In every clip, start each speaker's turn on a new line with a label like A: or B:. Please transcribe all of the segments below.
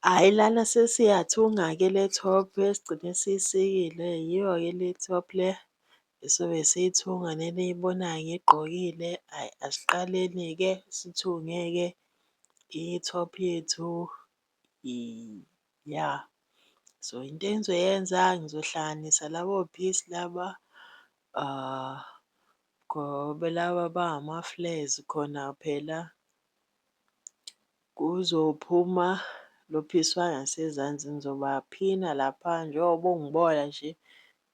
A: Hhayi lana sesiyathunga ke le top esigcine siyisikile yiyo ke le top le esobe siyithunga le eniyibonayo ngiyigqokile. Hhayi asiqaleni-ke sithunge-ke i-top yethu ya. So into engizoyenza ngizohlanganisa labo piece laba ngoba laba bangama-flares khona phela Kuzophuma lophiswa ngasezansi ngizobaphina lapha njengoba ungibola nje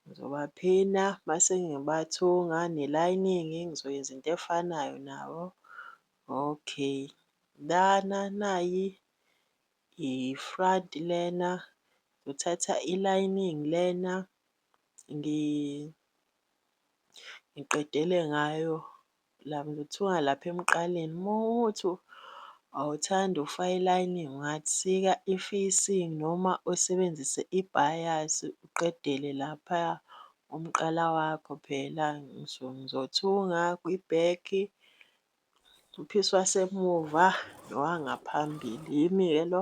A: ngizobaphina mase ngibathunga ne-lining ngizoyenza into efanayo nabo. Okay lana nayi i-front lena ngithatha i-lining lena ngiqedele ngayo kuthiwa lapha emqaleni uma uthi awuthandi ukufaka i-lining ungasika i-facing noma usebenzise i-bias uqedele laphaya umqala wakho phela ngizothunga kwi-back, uphisi wasemuva nowangaphambili. Yimi-ke lo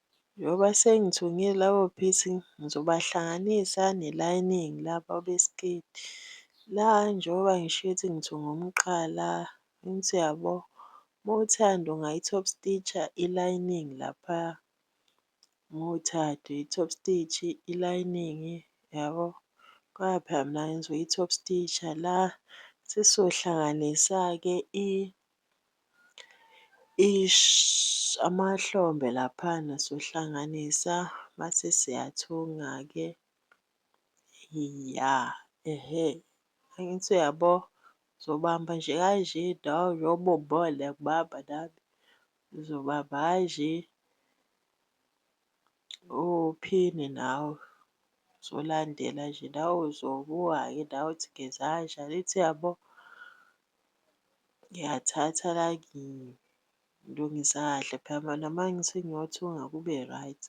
A: Njengoba sengithungile labo beads ngizobahlanganisa ne lining laba besiketi la njengoba ngisho ukuthi ngithunga umqala angithi uyabo uma uthanda ungayi top stitch-a i lining laphaya uma uthanda uyi top stitch i lining yabo ngoba phela mina ngizoyi top stitch-a la. Sesohlanganisa-ke i Eish amahlombe laphana siyohlanganisa mase siyathunga-ke. Ya ehe angithi uyabo ngizobamba nje kanje ngiyakubamba nami ngizobamba kanje uphinde nawe uzolandela nje nawe uzobuka-ke nawe ukuthi ngenza kanjani angithi uyabo. Ngiyathatha la ngilungisa kahle phela noma ngithi ngiyothunga kube right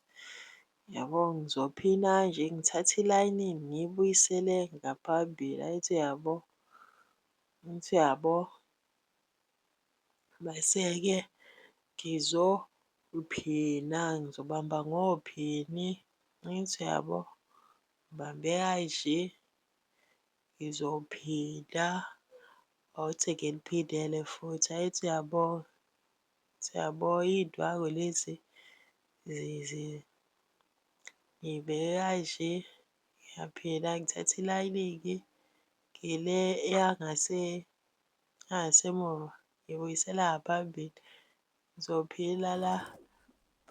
A: yabo. Ngizophina nje ngithathe ilayinini ngiyibuyisele ngaphambili angithi uyabo, angithi uyabo. Mese-ke ngizophina ngizobamba ngophini angithi uyabo, ngibambe kanje Ngizophinda awuthi ake ngiphindele futhi. Hhayi siyabonga, siyabonga iy'ndwangu lezi ngiy'beke kanje, ngiyaphila ngithathe ilayiningi ngile yangasemuva ngibuyisela ngaphambili. Ngizophila la,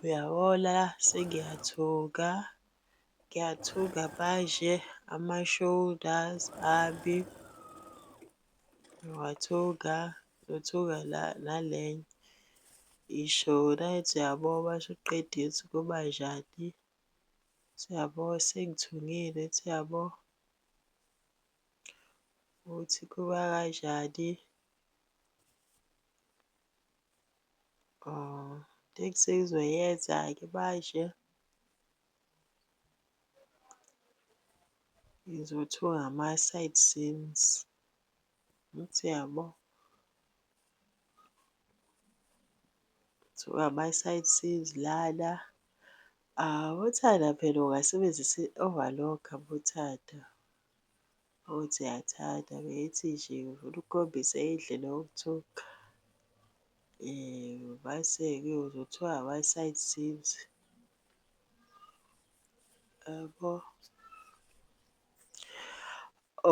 A: uyabo la sengiyathuka, ngiyathuka manje ama-shoulders ami, ngiwathuka, ngiyothuka la nale i-shoulder ethi uyabo uma usuqedile ukuthi kuba njani, ethi uyabo sengithungile, ethi uyabo ukuthi kuba kanjani. Oh, teksi izoyeza-ke manje. Ngizothuka ngama-side scenes. Angithi uyabo? Ngithuka ngama-side scenes lana. Uthanda phela ungasebenzisa i-overlock-a uthanda. Uthi uyathanda bethi nje ufuna ukukhombisa indlela yokuthoka mase-ke uzothiwa ama-side seams yabo.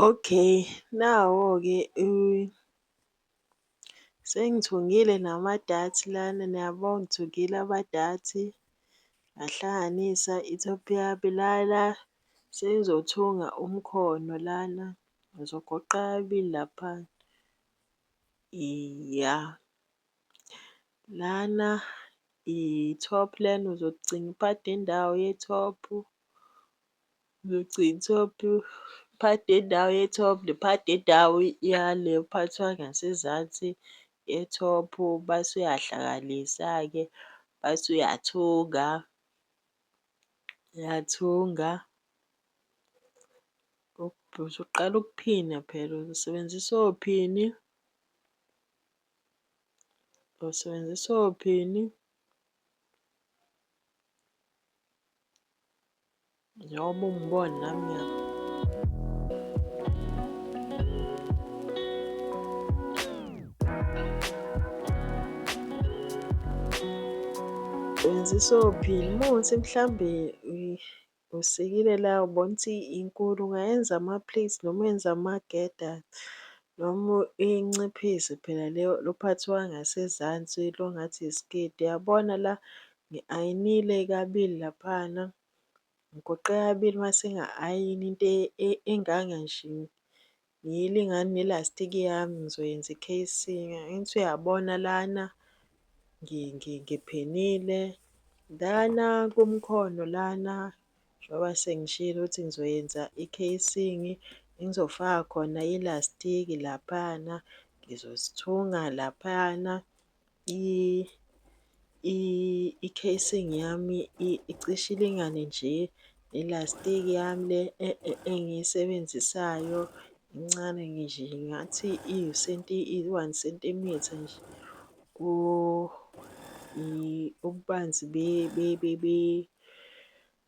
A: Okay, nawo-ke . Sengithungile nama-darts lana, niyabo? Ngithungile ama-darts, ngahlanganisa i-top yami lana. Sengizothunga umkhono lana, ngizogoqa kabili lapha. Iya, lana i-top lena, uzocinga uphathe indawo ye-top. Ngigcina top part yendawo ye-top ne-part yendawo yale ephathwa ngasezansi ye-top. Mase uyahlanganisa-ke mase uyathunga, uyathunga usuqala ukuphina phela usebenzisa ophini, usebenzisa ophini. Njengoba ungibona nami ngiya wenza isophini uma ukuthi mhlawumbe usikile la ubona ukuthi inkulu ungayenza ama-plates noma uyenze amageda noma inciphise phela leyo lo phathi wangasezansi longathi isiketi uyabona la Ngi-ayinile kabili laphana, ngigoqe kabili uma sengi-ayina into enganga nje. Ngiyilingane nelastiki yami ngizoyenza i-casing. Angithi uyabona lana ngiphenile. Lana kumkhono lana njengoba sengishilo ukuthi ngizoyenza i-casing, engizofaka khona ilastiki laphana, ngizozithunga laphayana. i-casing yami icishe ilingane nje nelastiki yami le engiyisebenzisayo incane nje ngathi iwu-one sentimitha nje ububanzi .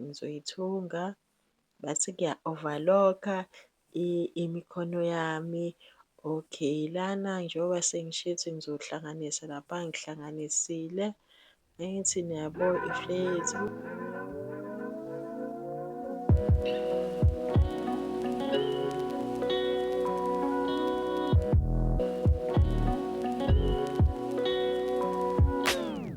A: ngizoyithunga bese ngiya-overlock-a imikhono yami. Okay, lana njengoba sengisho ukuthi ngizohlanganisa lapha ngihlanganisile. Angithi niyabo ifleyethu.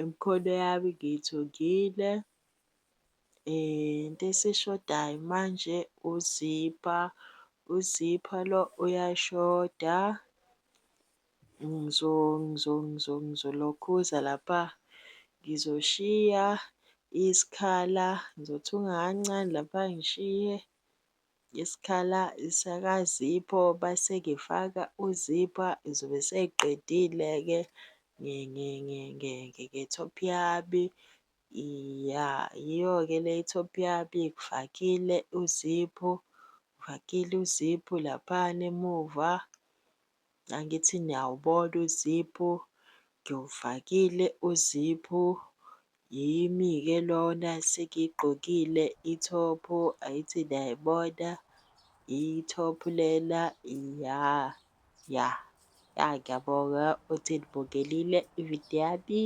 A: Imikhono yami ngiyithungile into esishodayo manje uzipha, uzipha lo uyashoda. Ngizolokhuza lapha, ngizoshiya isikhala, ngizothunga kancane lapha ngishiye isikhala sakaZipho base ngifaka uZipho ngizobe sengiqedile-ke nge-top yami. Ya, yiyo-ke le i-top yami, ngifakile uZipho, ngifakile uZipho laphana emuva. Angithi niyawubona uziphu, ngiwufakile uziphu. Yimi-ke lona sengiyigqokile ithophu, angithi niyayibona ithophu lena ya ya. Ya ngiyabonga ukuthi nibukelile ividiyo yami,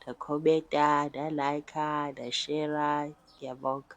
A: nakhomenta, na-like-a, nashera. Ngiyabonga.